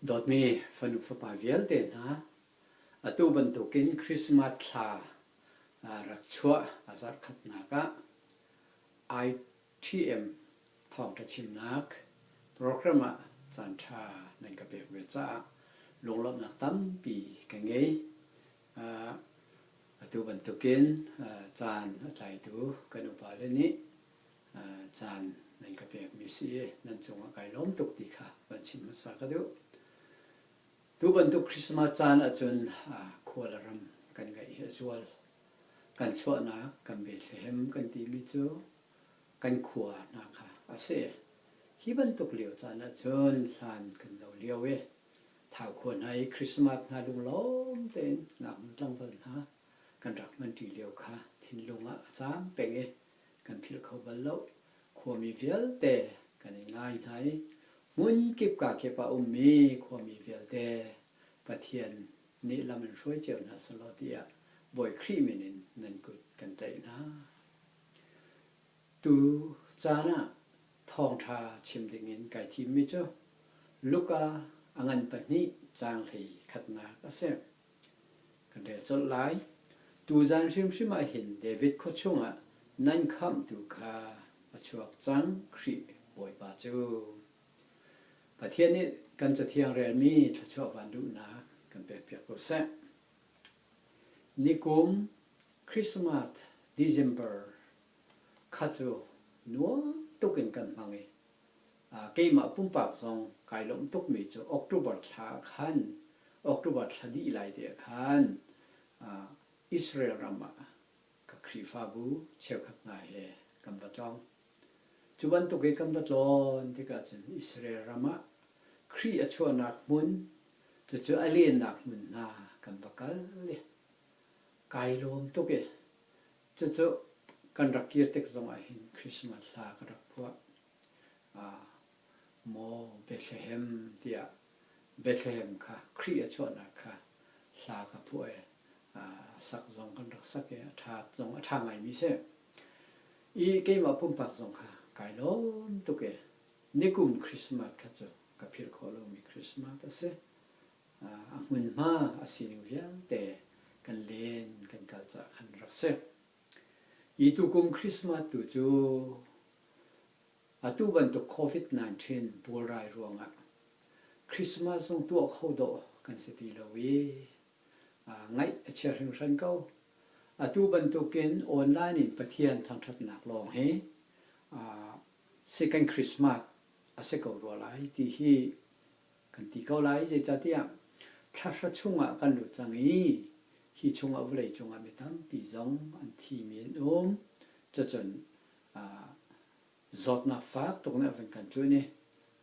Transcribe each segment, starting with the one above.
Dawtmi fanu fapa vialte hna, atu bantukin Christmas thla rak chuah a zarkhatnak ah ITM thawngṭha chimnak program ah caanṭha nan ka pek ve caah lunglawmhnak tampi ka ngei. Atu bantukin caan a tlaitu kan upale nih caan nan ka pekmi si i nan cungah kai lawm tuk ti kha van chim hmasa ka duh. Tu bantuk Christmas caan ahcun khua le ram kan ngaih hi a zual. Kan chuahnak kan Bethlehem kan timi cu kan khua hna kha a si. Hi bantuk lio caan ahcun hlan kan lo lio i Thau khua hna i Christmas hna lunglawm tein ngaknu tlangval hna kan rak hmanṭi lio kha thinlung ah a cam peng i kan philh kho bal lo. Khuami vialte kan i ngai hna i hmun kip ka kip ah ummi khuami vialte Pathian nih lam in hruai cio hna seh law tiah Bawi Khrih min in nan kut kan tlaih hna. Tu caan ah thawngṭha chim dingin kai thimmi cu Luka a ngan pahnih caang hlei khatnak a si. Kan rel colh lai. Tuzan hrimhrim ah hin David khua chungah nan khamhtu kha a chuak cang, Khrih Bawipa cu. Pathian nih kan Cathiang relmi thluachuah van duhnak kan pekpiak ko seh. Nikum Christmas December kha cu nuam tuk in kan hmang i keimah pumpak zong kai lawmh tukmi cu October thla ah khan October thla dih lai te ah khan Israel ram ah ka Khrihfabu cheukhat hna he kan va tlawng. Cu bantuk i kan va tlawn tikah cun Israel ram ah Khrih a chuahnak hmun, cucu a lennak hmun hna kan va kal i kai lawm tuk i Cucu kan rak kir tik zongah hin Christmas hla ka rak phuah. Aa maw Bethlehem tiah Bethlehem kha Khrih a chuahnak kha hla ka phuah i a sak zong kan rak sak i a ṭha zong a ṭha ngaimi si. I keimah pumpak zong kha kai lawm tuk i nikum Christmas kha cu ka philh khawh lomi Christmas a si. a hmunhma a sining vialte kan len kan kalh cah khan rak si. Hi tukum Christmas tu cu atu bantuk COVID-19 bualrai ruangah Christmas zong tuah kho dawh kan si ti lo i ngaih a chia hringhran ko. Atu bantukin online in Pathian thangthatnak lawng hi second Christmas a si ko rua lai ti hi Kan ti ko lai, zeicahtiah thlarha chungah kan lut cang i hi chungah vawlei cungah mi tampi zong an thimi an um. Cucun zawtnak fak tuk nih a vun kan ṭuan i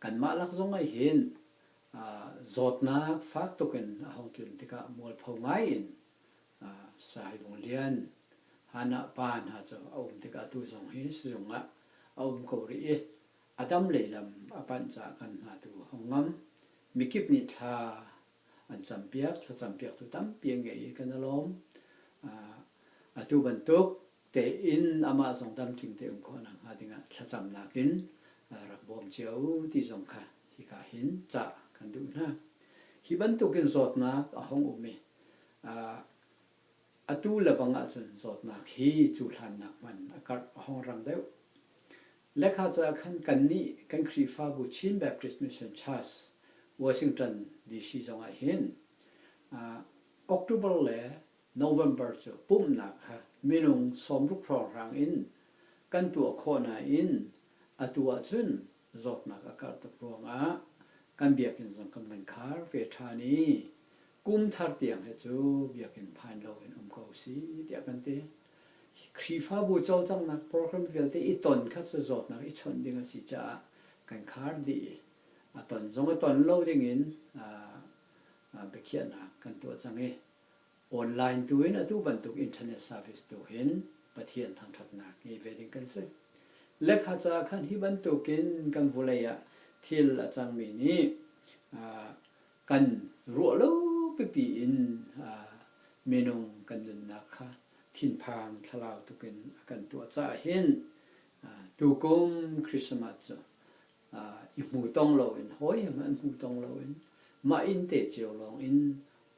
kanmah lak zong ah hin zawtnak fak tuk in a hung tlun tikah mualpho ngai in Saivung Lian, Hannah pa hna cu a um tikah tu zong hi sizung ah a um ko rih i A tam lei lam a panh cah kan hna tu a hung ngam. Mikip nih thla an campiak, thlacampiaktu tampi an ngei i kan a lawm. Atu bantuk tein amah zong damtling tein khawhnak hnga dingah thlacamnak in rak bawm cio u ti zong kha hika hin cah kan duh hna. Hi bantuk in zawtnak a hung um i Atu lebang ahcun zawtnak hi cuhlannak hman a karh a hongrang deuh. Lekha caah khan kannih kan Khrihfabu Chin Baptist Mission Church, Washington, DC zongah hin October le November cu pumhnak kha minung sawmruk hrawnghrang in kan tuah khawh nain atu ahcun zawtnak a karh tuk ruangah kan biakinn zong kan van khar ve ṭhan i Kum thar tiang hi cu biakinn phan loin um ko si tiah kan ti. Khrihfabu cawlcanghnak program vialte i ton kha cu zawtnak i chawnh ding a si caah kan khar dih i a ton zong a ton lo dingin biakhiahnak kan tuah cang i online tu in atu bantuk internet service tu hin Pathian thangṭhatnak ngei ve ding kan si. Lekha caah khan hi bantukin kan vulei ah thil a cangmi nih kan ruah lo pipi in minung kan nunnak kha thinphang thlalau tuk in a kan tuah caah hin tukum Christmas cu i hmu tong lo in hawihem an hmu tong lo in mah inn te cio lawng in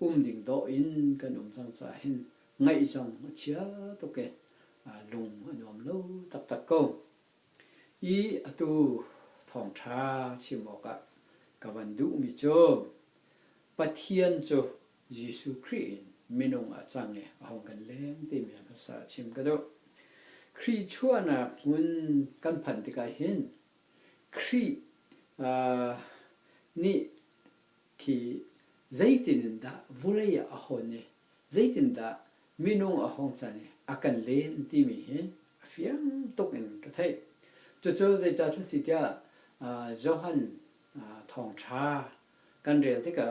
um ding dawh in kan um cang caah hin ngaih zong a chia tuk i lung a nuam lo taktak ko. I atu thawngṭha chim awkah ka van duhmi cu Pathian cu Jesuh Khrih in minung ah cang i a hung kan leng timi hmasa chim ka duh. Khrih chuahnak hmun kan phan tikah hin Khrih nih khi zeitin in dah vawlei ah a hawn i zeitin dah minung a hung can i a kan len timi hi a fiang tuk in ka theih. Cucu zeicah a si tiah Johan Thawngṭha kan rel tikah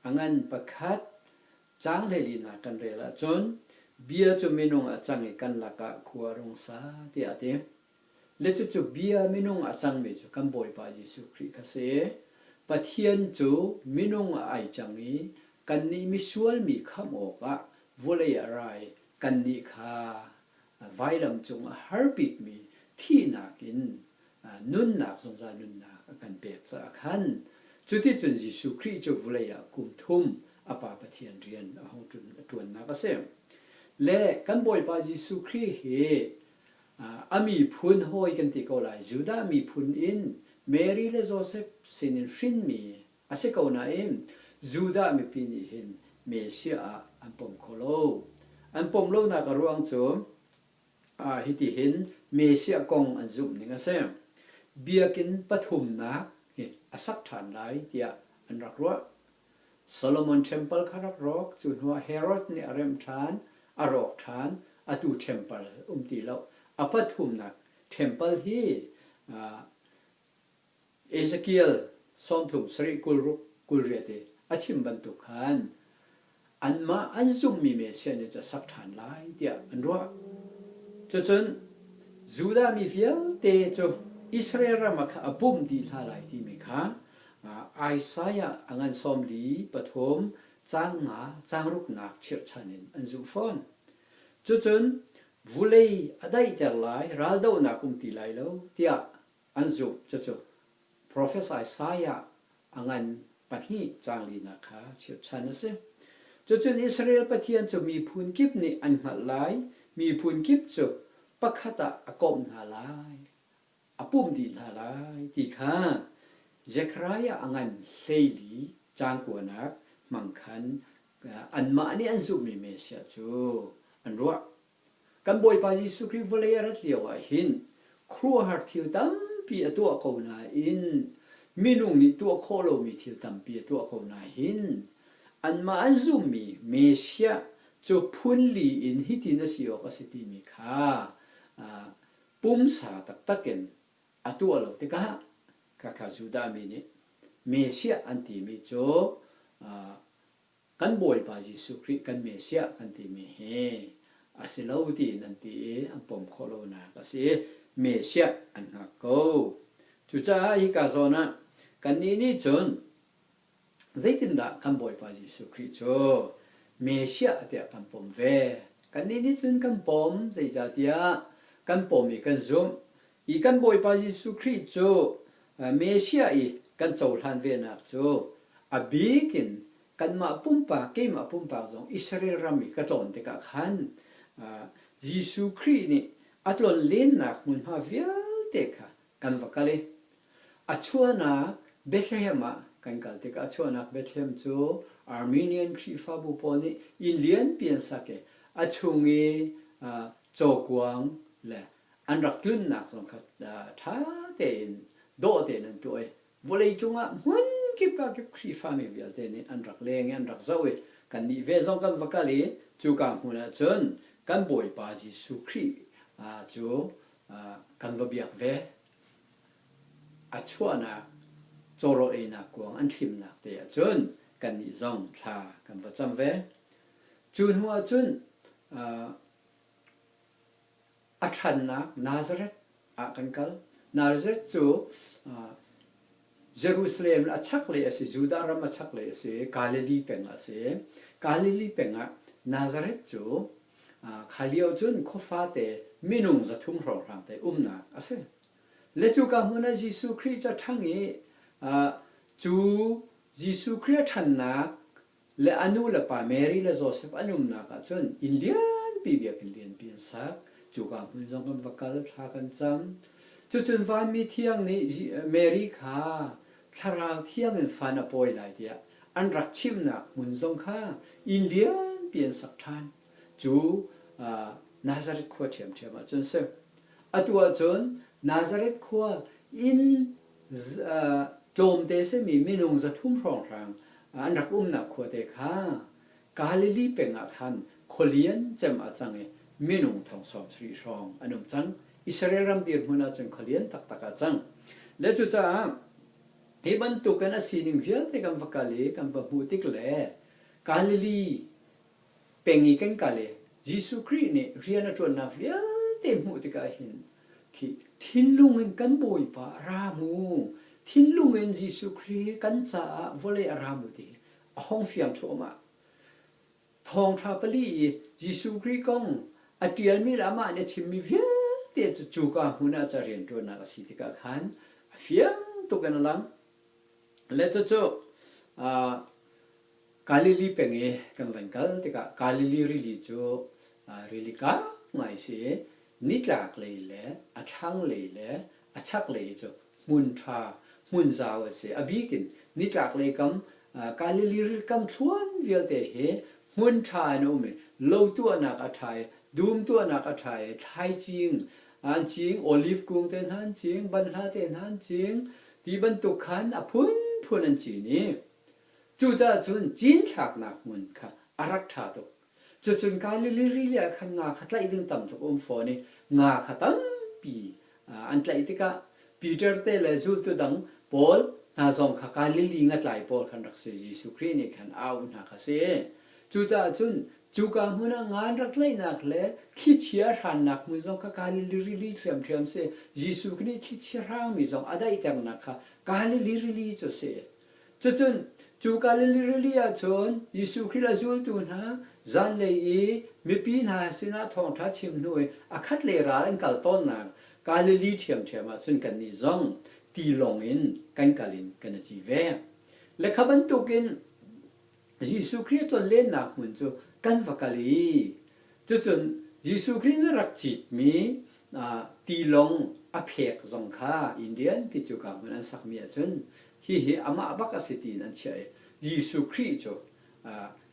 a ngan pakhat caang hleilinak kan rel ahcun bia cu minung a cang i kan lakah khua a rung sa tiah a ti. le cucu bia minung a cangmi cu kan Bawipa Jesuh Khrih kha si. Pathian cu minung a ai cang i kannih misual mi khamh awkah vawlei a ra i kannih kha vailam cung a har bikmi thihnak in nunnak zungzal nunnak a kan pek caah khan cuticun Jesuh Khrih cu vawlei ah kum thum a Pa Pathian rian a hung ṭuannak a si. Le kan Bawipa Jesuh Khrih hi A miphun hawi kan ti ko lai. Judah miphun in Mary le Josef sinin hrinmi a si ko nain Judah mipi nih hin Messiah ah an pom kho lo. An pom lonak a ruang cu hitihin Messiah kong an zumhning a si. Biakinn pathumnak hi a sak ṭhan lai tiah an rak ruah. Solomon ṭhempal kha rak rawk, cu hnuah Herod nih a remh ṭhan, a rawk ṭhan, atu ṭhempal um ti lo. A pathumnak ṭhempal hi Ezekiel sawmthum sarih kul ruk kul riat i a chim bantuk khan anmah an zumhmi Messiah nih cu a sak ṭhan lai tiah an ruah. Cucun Judah mi vialte cu Israel ram ah khan a bawmh dih hna lai timi kha Isaiah a ngan sawmli pathum caan nga caangruknak chirhchan in an zuh fawn. Cucun vulei a daihter lai, raldohnak um ti lai lo tiah an zumh. Cucu profet Isaiah a ngan pahnih caanglinak kha chirhchan a si. Cucun Israel Pathian cu miphun kip nih an hngalh lai, miphun kip cu pakhat ah a komh hna lai, a pumh dih hna lai ti kha Zekhariah a ngan hleili caan kuanak hmang khan anmah nih an zumhmi Messiah cu an ruah. Kan Bawipa Jesuh Khrih vawlei a rat lioah hin khuaruahhar thil tampi a tuah ko nain minung nih tuah khawh lomi thil tampi a tuah ko nain anmah an zumhmi Messiah cu phunli in hitin a si awk a si timi kha Pumsa taktak in a tuah lo tikah khakha Judah mi nih Messiah an timi cu kan Bawipa Jesuh Khrih kan Messiah kan timi hi a si lo tiin an ti i an pom khawh lonak a si i Messiah an hngak ko. Cucaah hika zawn ah kannih nih cun Zeitindah kan Bawipa Jesuh Khrih cu Messiah tiah kan pom ve? Kannih nih cun kan pom, zeicahtiah kan pom i kan zumh i kan Bawipa Jesuh Khrih cu Messiah i kan cohlan venak cu a bik in kanmah pumpak, keimah pumpak zong Israel ram i ka tlawn tikah khan Jesuh Khrih nih a tlonlennak hmunhma vialte kha Kan va kal i a chuahnak Bethlehem ah kan kal tikah a chuahnak Bethlehem cu Armenian Khrihfabu pawl nih inn lianpi an sak i a chung i cawkuang le an rak tlunnak zong kha ṭha tein dawh tein an tuah i vawleicung ah hmun kip ah kip Khrihfami vialte nih an rak leng i an rak zoh i kannih ve zong kan va kal i cuka hmun ah cun kan Bawipa Jesuh Khrih cu kan va biak ve. A chuahnak cawrawl einak kuang an thlimnak te ahcun kannih zong thla kan va cam ve. Cu hnu ahcun a ṭhannak Nazareth ah kan kal. Nazareth cu Jerusalem a chaklei a si, Judah ram a chaklei a si i Galilee peng ah a si. Galilee peng ah Nazareth cu Khai lio cun khuafate minung zathum hrawnghrang te umnak a si. Le cuka hmun ah Jesuh Khrih cu a ṭhang i cu Jesuh Khrih a ṭhannak le a nu le pa Mary le Josef an umnak ah cun inn lianpi biakinn lianpi an sak. Cuka hmun zong kan va kal, thla kan cam. Cucun Vanmi Thiang nih Mary kha Thlarau thiang in fan a pawi lai tiah an rak chimhnak hmun zong kha inn lianpi an sak ṭhan cu Nazareth khua ṭhiamṭhiam ah cun si. Atu ahcun Nazareth khua inn tlawmte simi minung zathum hrawnghrang an rak umnak khuate kha Galilee peng ah khan khua lian cem a cang i minung thong sawm sarih hrawng an um cang, Israel ram dirhmun ah cun khua lian taktak ah a cang. Le cucaah hi bantukin a sining vialte kan va kal i kan va hmuh tik le Galilee peng i kan kal i Jesuh Khrih nih rian a ṭuannak vialte hmuh tikah hin khi thinlung in kan Bawipa a ra mu, thinlung in Jesuh Khrih kan caah vawlei a ra mu ti hi a hong fiang thuam ah Thawngṭha pali i Jesuh Khrih kong a ṭialmi le amah nih a chimmi vialte cu cuka hmun ah ca rianṭuannak a si tikah khan a fiang tuk in a lang. Le cucu Galilee peng i kan van kal tikah Galilee rili cu rili kang ngai a si i nitlak lei le a thlanglei le a chaklei cu hmun ṭha, hmun zau a si. A bik in nitlaklei kam Galilee rilkam thluan vialte hi hmun ṭha in a um i lo tuahnak a ṭha i dum tuahnak a ṭha i thlaicing an cing, oliv kung te hna an cing, banhla te hna an cing, ti bantuk khan a phunphun an cin i cucaah cun cinthlaknak hmun kha a rak ṭha tuk. Cucun Galilee ri nih khan nga kha tlaih ding tam tuk a um fawn i nga kha tampi an tlaih tikah Peter te le zultu dang pawl hna zong kha Galilee ngatlai pawl khan rak si, Jesuh Khrih nih khan a auh hna kha si. Cucaah cun cuka hmun ah ngan rak tlaihnak le thlichia hrannak hmun zong kha Galilee rili ṭhiamṭhiam si, Jesuh nih thlichia hrangmi zong a daihternak kha Galilee rili cu a si. Cacun cu Galilee rili ah cun Jesuh Khrih a zultu hna zanlei i mipi hna sinah thawngṭha chim hnu i a khatlei ral an kal tawnnak Galilee ṭhiamṭhiam ah cun kannih zong tilawng in kan kal in kan i ci ve. Le kha bantukin Jesuh Khrih tlonlennak hmun cu kan va kal i cucun Jesuh Khrih na rak citmi tilawng a phek zong kha Indianpi cu kaa hmun an sakmi ahcun hihi amah bak a si tiin an chiah i Jesuh Khrih cu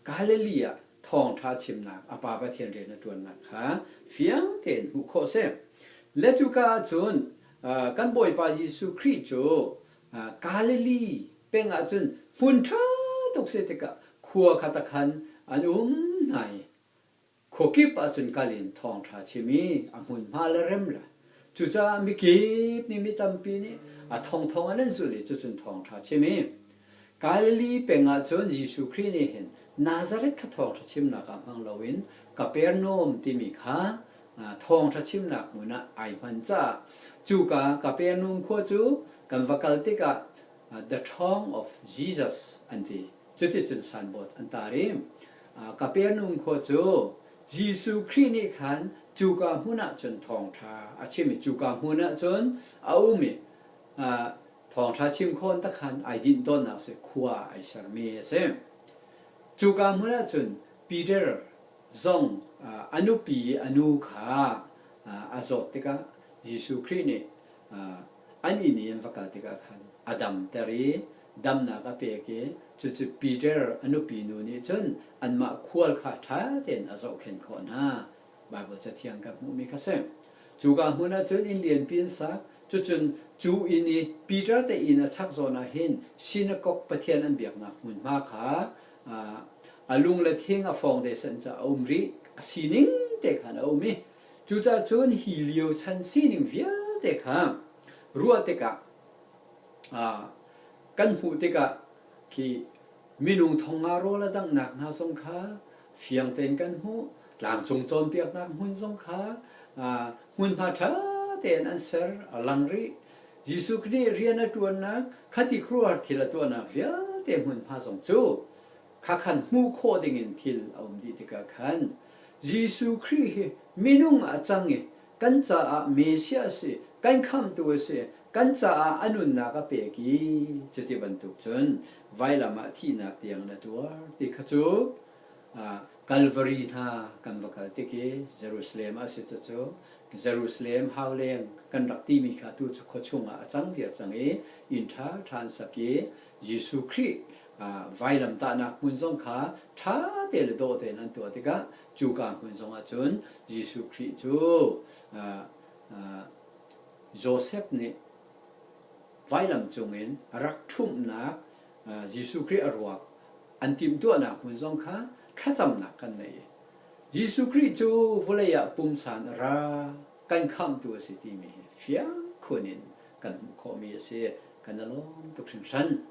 Galilee ah thawngṭha chimnak a Pa Pathian rian a ṭuannak kha fiang tein hmuh khawh a si. Le cuka ah cun kan Bawipa Jesuh Khrih cu Galilee peng ah cun hmun ṭha tuk si tikah khua khat ah khan an um hna i khuakip ah cun kal in thawngṭha chim i a hmunhma le rem le cucaah mikip nih mi tampi nih a thongthong an an zulh i cucun thawngṭha chim i Galilee peng ah cun Jesuh Khrih nih hin Nazareth kha thawngṭha chimnak ah hmang loin Kapernaum timi kha thawngṭha chimnak hmun ah ai hman caah cuka Kapernaum khua cu kan va kal tikah The Ṭhawng of Jesus an ti. Cuticun sanbawi an tar i Kapernaum khua cu Jesuh Khrih nih khan cuka hmun ah cun thawngṭha a chim i cuka hmun ah cun a um i thawngṭha chim khawh tak khan ai dinh tawnnak a si, khua ai sermi a si. Cuka hmun ah cun Peter zong a nupi i a nu kha a zawt tikah Jesuh Khrih nih an inn i an va kal tikah khan a damter i damnak a pek i cucu Peter a nupi nu nih cun anmah khual kha ṭha tein a zohkhenh khawh hna. Baibal cathiang kan hmuhmi kha si. Cuka hmun ah cun inn lianpi an sak, cucun cu inn i Peter te inn a chak zawn ah hin sinakok pathian an biaknak hmunhma kha a lung le thing a fawng desen caah a um rih a sining te khan a um i cucahcun hi lio chan sining vialte kha ruah tikah kan hmuh tikah khi minung thonga rawl a danghnak hna zong kha fiang tein kan hmuh tlangcung cawnpiaknak hmun zong kha hmunhma ṭha tein an ser a lang rih Jesuh Khrih rian a ṭuannak khati khuaruahhar thil a tuahnak vialte hmunhma zong cu kha khan hmuh khawh dingin thil a um dih tikah khan Jesuh Khrih hi minung ah a cang i kan caah Messiah a si, kan Khamhtu a si, kan caah a nunnak a pek i cuti bantuk cun vailam ah thihnak tiang na tuar ti kha cu Kalvari hna kan va kal tik i Jerusalem a si cucu Jerusalem hauleng kan rak timi kha tu cu khua chungah a cang viar cang i inn ṭha ṭha an sak i Jesuh Khrih vailamtahnak hmun zong kha ṭha te le dawh tein an tuah tikah cuka hmun zongah cun Jesuh Khrih cu Josef nih vailam cungin rak ṭhumhnak Jesuh Khrih a ruak an timhtuahnak hmun zong kha thlacamnak kan ngei i Jesuh Khrih cu vawlei ah pumsan a ra kan khamhtu a si timi hi fiang khun in kan hmuh khawhmi a si. Kan a lawm tuk hringhran.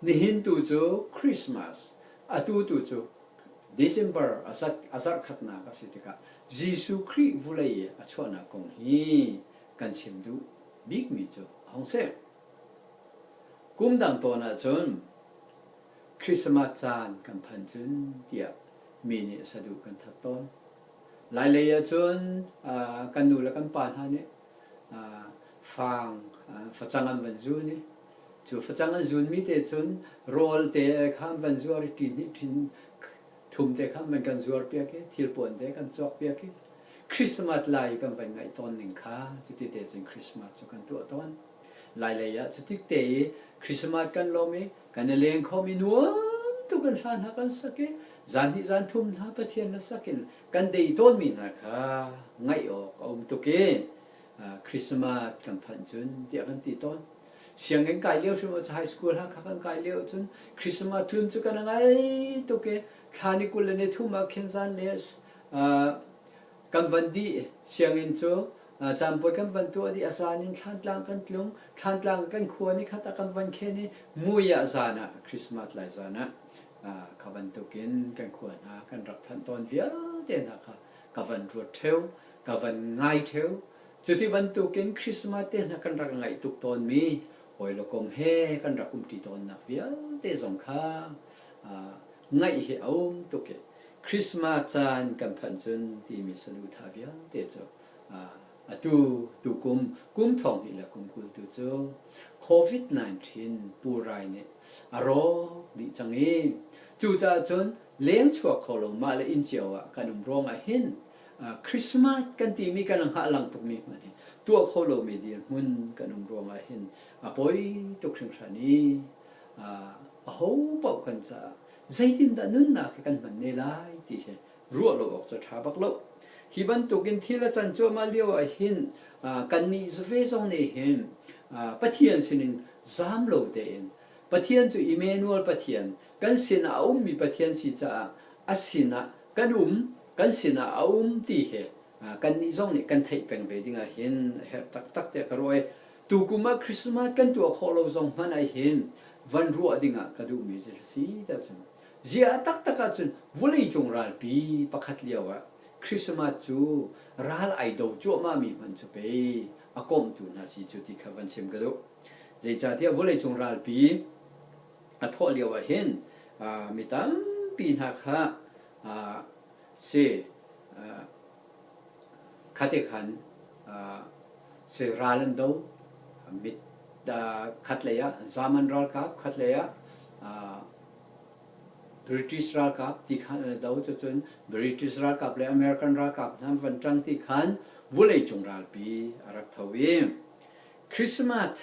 Nihin tu cu Christmas, atu tu cu December a zarhkhatnak a si tikah Jesuh Khrih vawlei a chuahnak kong hi kan chim duh bikmi cu a hung si. Kum dang tawn ahcun Christmas caan kan phan cun tiah mi nih saduh kan that tawn. Lailei ahcun kan nu le kan pa hna nih faang facang an van zun i cu facang an zunmi te cun rawl te kha an van zuar i ṭin hnih ṭhin Thumte kha man kan zuarpiak i thilpuante kan cawkpiak i Christmas lai i kan van ngaih tawn ning kha cuti te cun Christmas cu kan tuah tawn. Lailei ah cu tik te i Christmas kan lawm i kan i leng khom i nuam tuk in hla hna kan sak i zan hnih zan thum hna Pathian hla sak in kan dei tawnmi hna kha ngaih awk a um tuk i Christmas kan phanh cun tiah kan ti tawn. Sianginn kai lio hrim cu high school ha kha kan kai lio cun Christmas thun cu kan ngai tuk i thla ni kul le ni thum ah khin zan le kan van dih sianginn cu caanpuai kan van tuah dih a zan in thlantlang kan tlung thlantlang kan khua ni khat ah kan van khen i mui ah zan ah Christmas lai zan ah kha bantukin kan khua hna kan rak phanh tawn vialte hna kha ka van ruat theo, ka van ngai theo. Cuti bantukin Christmas te hna kan rak ngaih tuk tawnmi hawi le kom he kan rak umṭi tawnnak vialte zong kha ngaih hi a um tuk i Christmas caan kan phanh cun timi saluhthah vialte cu atu tukum kum thawngnih le kum kul tu cu COVID-19 purai nih a rawk dih cang i cucaah cun leng chuak kho lo mah le inn cio ah kan um ruangah hin Christmas kan timi kan langh a lang tukmi hmanh hi tuah kho lomi dirhmun kan um ruangah hin a poi tuk hringhran i aho paoh kan caah zeitindah nunnak hi kan hman ne lai ti hi ruah lo awk cu a ṭha bak lo. Hi bantukin thil a can cuahmah lio ah hin kannih zave zong nih hin Pathian sinin zam lo tein Pathian cu Immanuel Pathian, kan sinah a ummi Pathian si caah a sinah kan um, kan sinah a um ti hi kannih zong nih kan theih peng ve dingah hin a herh taktak tiah ka ruah i tukum ah Christmas kan tuah khawh lo zong hmanh ah hin van ruah dingah ka duhmi cu a si tiah cun ziah a taktak ahcun vawleicung ralpi pakhat lioah Christmas cu ral ai do cuahmahmi hmanh cu pei a komhtu hna si cu ti kha van chim ka duh. Zeicahtiah vawleicung ralpi a thawh lioah hin mi tampi hna kha si khate khan si ral an do. Mit khatlei ah Zaman ralkap khatlei ah British ralkap ti khan an i do. Cucun British ralkap le American ralkap hna van ṭang ti khan vawleicung ralpi a rak tho i Christmas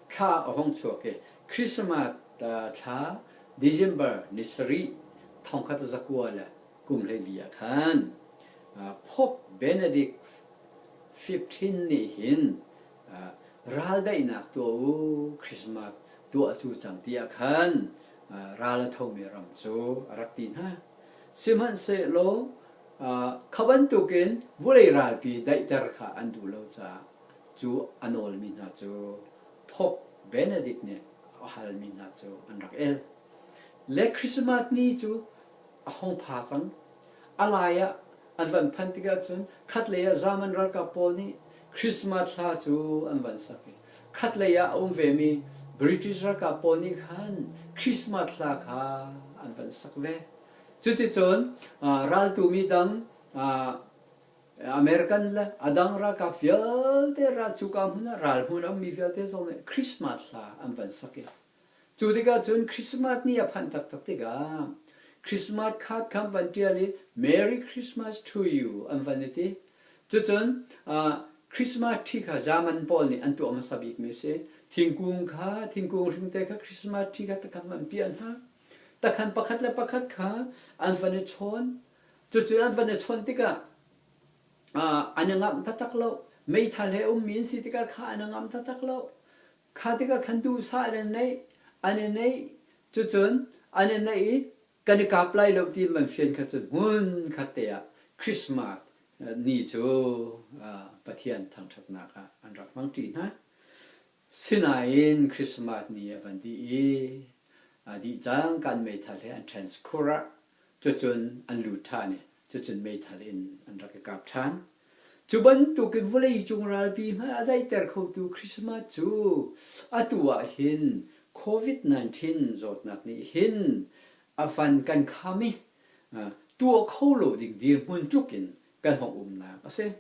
thla a hung chuak i Christmas thla December ni sarih, thongkhat zakua le kum hleili ah khan Pope Benedict XV nih hin raldaihnak tuah u, Christmas tuah cu cang ti ah khan ral a thomi ram cu a rak ti hna. Sihmanhsehlaw kha bantukin vulei ralpi daihter kha an duh lo caah Cu a nawlmi hna cu Pope Benedict nih a halmi hna cu an rak el. Le Christmas ni cu a hong pha cang. A lai ah an van phanh tikah cun khatlei ah Zaman ralkap pawl nih Christmas hla cu an van sak i khatlei ah a um vemi British ralkap pawl nih khan Christmas hla kha an van sak ve. Cuticun raltu midang American le a dang ralkap vialte ral cuka hmun ah ral hmun a ummi vialte zong nih Christmas hla an van sak i cu tikah cun Christmas ni a phanh taktak tikah Christmas card kha an van ṭial i Merry Christmas to you an van i ti. Cucun Christmas tree kha German pawl nih an tuah hmasa bikmi a si. Thingkung kha, thingkung hringte kha Christmas tree kha takhan van piah hna. Takhan pakhat le pakhat kha an van i chawn. Cucu an van i chawnh tikah an i ngamh taktak lo. Meithal he ummi an si tikah kha an i ngamh taktak lo. Kha tikah khan duhsah in an neih, an i neih. Cucun an i neih i kan i kap lai lo ti in van fian kha cun hmun khat te ah Christmas ni cu Pathian thangṭhatnak ah an rak hmang ṭi hna. Sinain Christmas ni a van dih i aa dih cang. Kan meithal he an transkur ah cucun an lut ṭhan i cucun meithal in an rak i kap ṭhan. Cu bantukin vawleicung ralpi hmanh a daihter khotu Christmas cu atu ah hin Covid-19 zawtnak nih hin a van kan kham i tuah kho lo ding dirhmun tluk in kan hong umnak a si.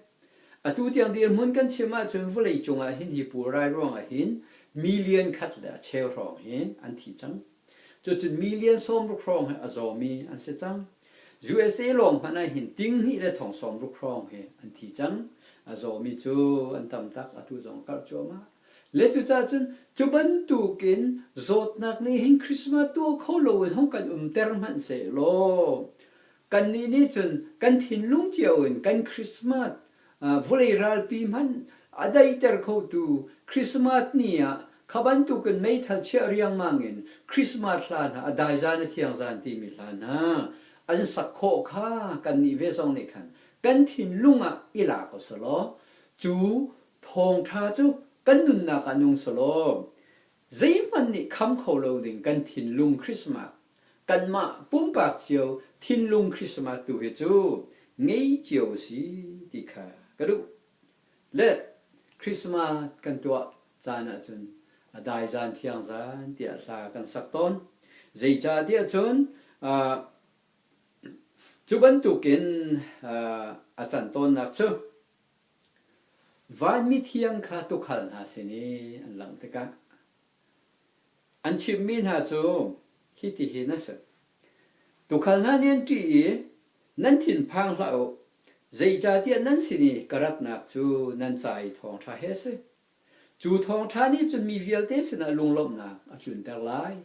Atu tiang dirhmun kan chim ahcun vawlei cungah hin hi pulrai ruangah hin million khat le a cheu hrawng hi an thi cang. Cucun million sawmruk hrawng hi a zawmi an si cang. USA lawng hmanh ah hin tinghnih le thong sawmruk hrawng hi an thi cang. A zawmi cu an tam tak atu zong a karh cuahmah. Le cucaah cun cu bantukin zawtnak nih hin Christmas tuah kho loin hong kan umter hmanh sehlaw Kannih nih cun kan thinlung cio in kan Christmas vulei ralpi hmanh a daihter khotu Christmas ni ah kha bantukin meithal chiah riangmang in Christmas hla hna, a dai zan, a thiang zan timi hla hna an sak khawh kha kannih ve zong nih khan kan thinlung ah i la ko seh law cu thawngṭha cu kan nunnak ah nung seh law Zeihmanh nih kham kho lo ding kan thinlung Christmas, kanmah pumpak cio thinlung Christmas tu hi cu ngei cio usih ti kha ka duh. Le Christmas kan tuah caan ahcun a dai zan thiang zan tiah hla kan sak tawn. Zeicahtiah cun cu bantukin a can tawnnak cu Vanmithiang kha tukhal hna sin i an langh tikah an chimmi hna cu hitihin a si: Tukhal hna nih an ṭih i, Nan thinphang hlah u, zeicahtiah nan sin i ka ratnak cu nan ca i thawngṭha hi a si. Cu thawngṭha nih cun mi vialte sinah lunglawmhnak a tlunter lai.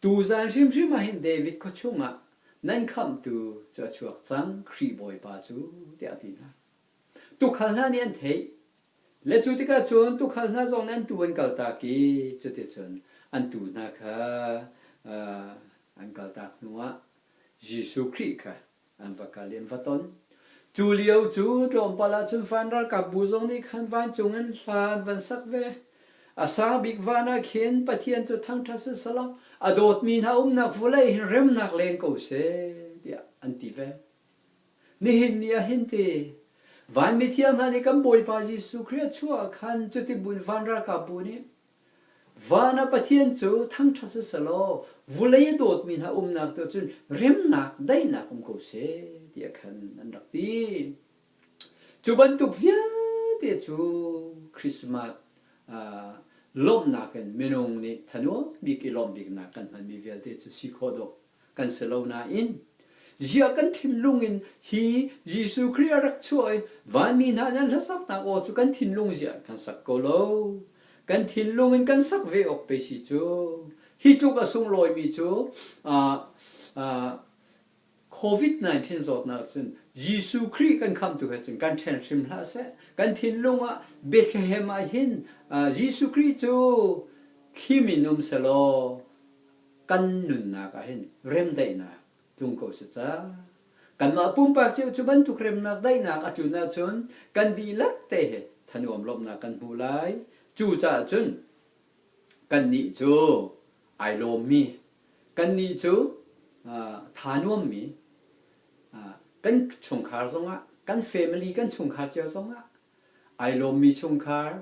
Tuzan hrimhrim ah hin David khua chungah nan khamhtu cu a chuak cang, Khrih Bawipa cu, tiah a ti hna. Tukhal hna nih an theih. Le cu tikah cun tukhal hna zong nih an tuu an kaltak i cuticun an tuu hna kha an kaltak hnuah Jesuh Khrih kha an va kal i an va ton. Cu lio cu tlawmpal ahcun van ralkapbu zong nih khan vancung in hla an van sak ve. A sang bik van ah khin Pathian cu thangṭhat sihsalaw a dawtmi hna umnak vulei hi remnak leng ko seh tiah an ti ve. Nihin ni ah hin ti vanmi thiang hna nih kan Bawipa Jesuh Khrih a chuah ah khan cutibun van ralkapbu nih van ah Pathian cu thangṭhat siselaw vulei a dawtmi hna umnak tu cun remnak daihnak um ko seh tiah khan an rak ti. Cu bantuk vialte cu Christmas ah lawmhnak in minung nih thanuam bik i lawmh biknak kan hmanmi vialte cu si khawh dawh kan si lo nain zia kan thinlung in hi Jesuh Khrih a rak chuah i vanmi hna nih an hlasaknak aw cu kan thinlung zia in kan sak ko lo kan thinlung in kan sak ve awk pe si cu hi tluk a sunglawimi cu covid-19 zawtnak cun Jesuh Khrih kan khamtu he cun kan ṭhen hrim hlah seh kan thinlung ah Bethlehem ah hin Jesuh Khrih cu thli minum sehlaw kan nunnak ah hin remdaihnak tlung ko si ca. Kanmah pumpak cio cu bantuk remnak daihnak a tlun ahcun kan dihlak te he thanuam lawmhnak kan hmu lai. Cucaah cun kannih cu ai lawmmi, kannih cu tha nuammi, kan chungkhar zongah, kan family kan chungkhar cio zongah ai lawmmi chungkhar,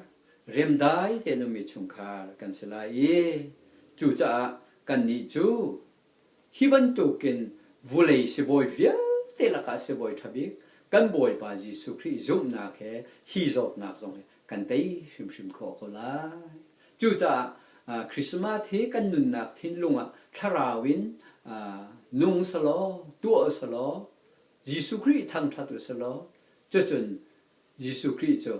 remdai tein ummi chungkhar kan si lai i cucaah kannih cu hi bantukin vulei sibawi vialte lakah sibawi ṭha bik kan Bawipa Jesuh Khrih zumhnak he hi zawtnak zong hi kan tei hrimhrim khawh ko lai. Cucaah Christmas hi kan nunnak thinlung ah thlarau in nung selaw, tuah usalaw, Jesuh Khrih thangṭhat usalaw, Cucun Jesuh Khrih cu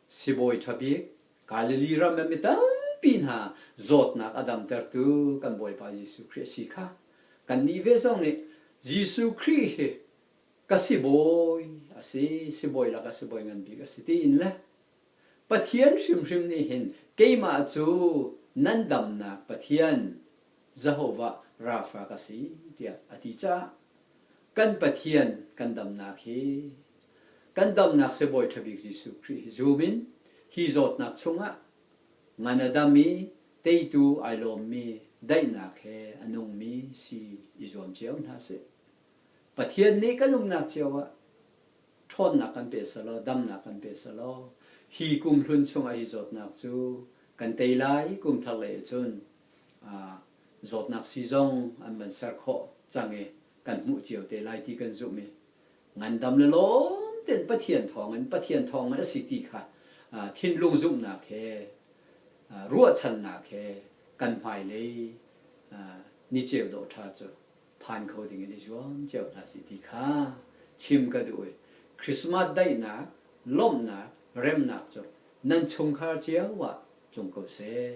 Sibawi ṭha bik, Galilee ram in mi tampi hna zawtnak a damtertu kan Bawipa Jesuh Khrih a si kha kannih ve zong nih Jesuh Khrih hi ka sibawi a si, sibawi lakah sibawi ngan bik a si tiin le Pathian hrimhrim nih hin keimah cu nan damnak Pathian Jehovah Rafa ka si tiah a ti caah kan Pathian kan damnak hi kan damnak Sibawi ṭha bik Jesuh Khrih hi zum in hi zawtnak chungah ngan a dam i teitu ai lawmmi daihnak he a nungmi si i zuam cio hna sih. Pathian nih kan umnak cio ah ṭhawnnak kan pe selaw damnak kan pe selaw hi kum hlun chungah hi zawtnak cu kan tei lai kum thar lei ahcun zawtnak sii zong an van ser khawh cang i kan hmuh cio te lai ti kan zumh i ngandam le lawm tein Pathian thawng in Pathian thawng ngan a si ti kha thinlung zumhnak he ruahchannak he kan hmailei ni ceu dawh ṭha cu phan kho dingin i zuam cio hna si ti kha chim ka duh i Christmas daihnak, lawmhnak, remnak cu nan chungkhar cio ah tlung ko seh.